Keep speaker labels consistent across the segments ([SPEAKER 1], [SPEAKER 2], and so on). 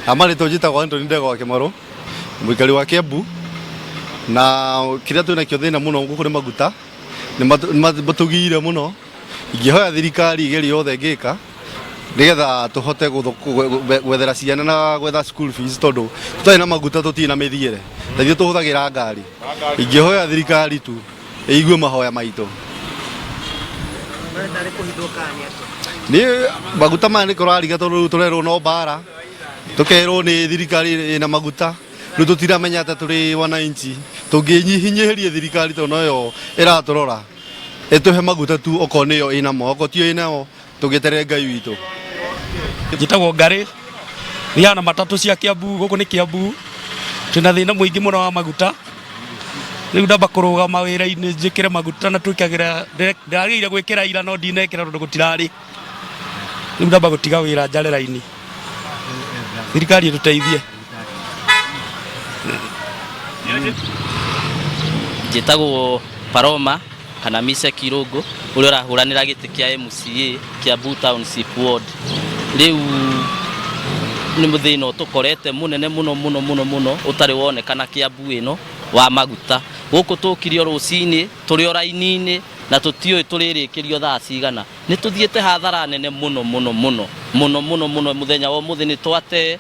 [SPEAKER 1] Amarĩtwo njĩtagwo Anthony Ndegwa wa Kĩmarũ, mũikari wa Kĩambu, na kĩrĩa twĩ nakĩo thĩna mũno gũkũ nĩ maguta, nĩ matũ- nĩ matũ- matũgiire mũno, ingĩhoya thirikari ĩgerie yothe ĩngĩka nĩgetha tũhote gũtho- gwe- gwe- gwethera ciana na gwetha school fees tondũ tũtarĩ na maguta tũtirĩ na mĩthiĩre, na ithuĩ tũhũthagĩra ngari. Ingĩhoya thirikari tu ĩigue mahoya maitũ. Niĩ maguta maya nĩ kũrariga tondũ rĩu tũrerwo no mbara tũkerwo nĩ thirikari ĩna maguta rĩu tũtiramenya atĩ tũrĩ wananchi tũngĩnyihinyĩhĩrie thirikari tondũ noyo ĩratũrora ĩtũhe maguta tu okorwo nĩyo ĩnamo okorwo tiyo ĩnamo tũgĩterere ngai witũ
[SPEAKER 2] njĩtagwo ngarĩ thiaga na matatũ cia kĩambu gũkũ nĩ kĩambu twĩna thĩna mũingĩ mũno wa maguta rĩu ndamba kũrũgama wĩra-inĩ njĩkĩre maguta na twĩkagĩra ndagĩire gwĩkĩra ira no ndinekĩra tondũ gũtirarĩ rĩu ndamba gũtiga wĩra njare raini thirikari ĩtũteithie
[SPEAKER 3] njĩtagwo Paroma kana Mise Kirũngũ ũrĩa ũrahũranĩra gĩtĩ kĩa MCA Kiambu Township Ward rĩu nĩ mũthĩna ũtũkorete mũnene mũno mũno mũno mũno ũtarĩ wonekana Kiambu ĩno wa maguta gũkũ tũkirio rũcinĩ tũrĩ o raini-inĩ na tũtiũĩ tũrĩrĩkĩrio thaa cigana nĩ tũthiĩte hathara nene mũno mũno mũno mũno mũno mũno mũthenya wa ũmũthĩ nĩ twate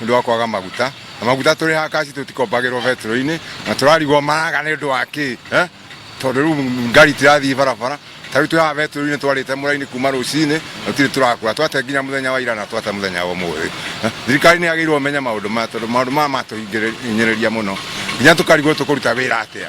[SPEAKER 4] nĩ ũndũ wa kwaga maguta na maguta tũrĩhaga kaci tũtikombagĩrwo betũrũ-inĩ na tũrarigwo maraga nĩ ũndũ wa kĩ eh? tondũ rĩu ngari tirathiĩ barabara tarĩu twĩ haha betũrũ-inĩ twarĩte mũraini kuma rũcinĩ na tũtirĩ tũrakũra twate nginya mũthenya wa ira na twate mũthenya wa ũmũthĩ Eh, thirikari nĩ yagĩrĩirwo menye maũndũ maya tondũ maũndũ maya matũhinyĩrĩria mũno nginya tũkarigwo tũkũruta wĩra atĩa